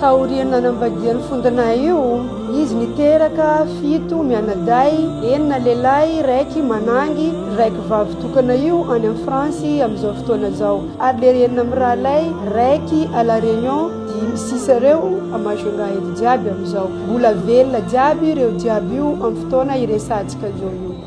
Taorian'ny nanambadian'i Fondona io, izy niteraka fito mianadahy, enina lehilahy, iraiky manangy, ny raiky vavy tokana io any amin'ny France amin'izao fotoana izao, ary lery enina mirahalahy, raiky à la Réunion, dimy sisa ireo à Majunga eto jiaby amin'izao. Mbola velona jiaby ireo jiaby io amin'ny fotoana iresahantsika an'izao io.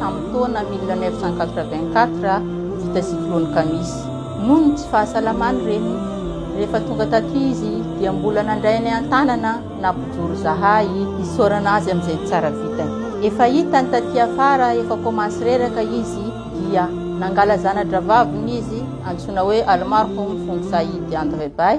tamin'ny taona mille neuf cent quatre-vingt-quatre vita cyclone Kamis. Noho ny tsy fahasalamany reny, rehefa tonga taty izy dia mbola nandray ny an-tanana na bojoro zahay hisaorana azy amin'izay tsara vitany. Efa hitany taty afara efa komansy reraka izy dia nangala zana-dravaviny izy antsoina hoe Almarhum Fong Said Andrebay,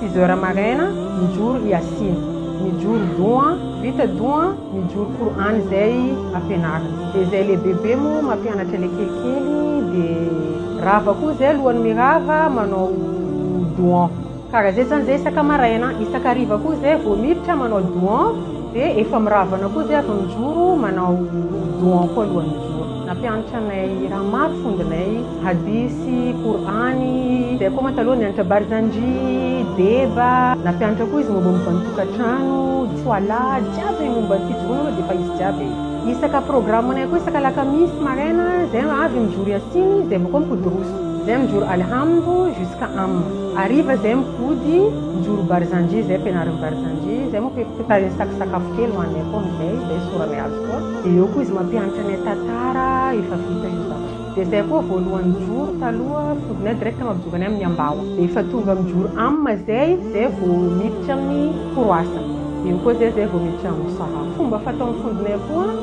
Six heures maraina mijoro Yassin, mijoro doha, vita doha mijoro Qur'an izay ampianarina dia izay lehibebe moa mampianatra ilay kelikely dia rava koa izay alohan'ny mirava manao doha karaha izay zany izay isaka maraina, isaka hariva koa izay vao miditra manao doha. Dia efa miravana koa izay avy mijoro manao doha koa alohan'ny mijoro. Nampianatry anay raha maro fondinay, hadisy, kor'any, dia koa mantsy aloha nianatra barzandry, deba, nampianatra koa izy mombamomba ny tokantrano, tsoala, jiaby momba ny fijoroana aloha dia efa izy jiaby e. Isaka programanay koa isaka alakamisy maraina izay avy mijoro yassin dia avy eo koa mipody roso. Izay mijoro alhamdo jusqu'à amma. Hariva izay mipody. Mijoro Barzanji izay ampianarin'i Barzanji, izay moa fitahian'i Saki sakafo kely ho an'ny akohony izay, izay sorany azy koa. Dia eo koa izy mampianatra ny tantara efa vita io zavatra io. Dia izay akoa voalohany mijoro taloha fody na direct mampijoro any amin'ny ambaho. Dia efa tonga mijoro am izay, izay vao miditra amin'ny croissant. Eo koa izay izay vao miditra amin'ny saha. Fomba fataon'ny fodinay koa.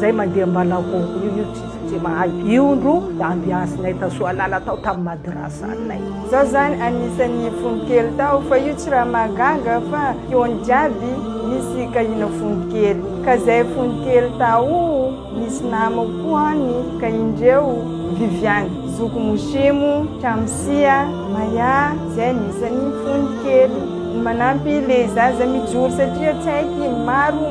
Zay mandeha mbalahoo io io tsy tsy mahay io ndro ambiansinay ta soalala tao tam madrasanay. Za zany anisan'ny fony kely tao fa io tsy raha mahagaga fa teo ny jiaby nisy kahina fony kely ka zay fony kely tao nisy namako koa any ka indreo viviane zoky mosimo tramisia maya zay anisan'ny fony kely ny manampy le zaza mijoro satria tsy haiky maro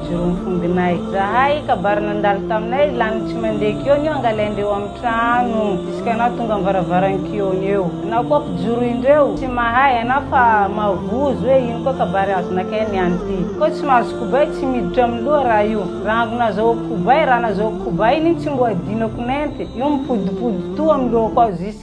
Jereo mifongina izahay kabary nandalo taminay lany tsy mandeha kion io angalaindreo am trano jusque anao tonga am varavaran kion eo anao koa mpijoro indreo tsy mahay anao fa mavozo hoe ino koa kabary azo nakay ny any ty koa tsy mahazo kobay tsy miditra am loha raha io rango nazahoako kobay raha nazahoako kobay iny tsy mboadinako nenty io mipodipody toa am lohako ao jusque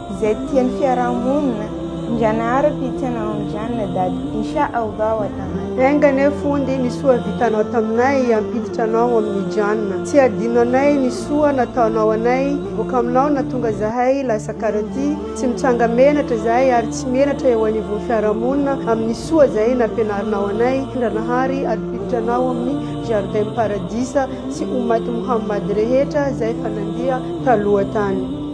Izay tia ny fiaraha-monina, Ndrianahary tia tsy anao Ndriana dada, Insha Allah wa taala. Enga anie Fondy ny soa vitanao taminay hampiditra anao amin'ny Jannah. Tsy hadino anay ny soa nataonao anay, voka aminao natonga zahay lasa karati, tsy mitranga menatra zahay ary tsy menatra eo anivon'ny fiaraha-monina amin'ny soa zay nampianarinao anay, Ndranahary adpiditra anao amin'ny jardin paradisa sy Ummat Muhammad rehetra zay efa nandeha taloha tany.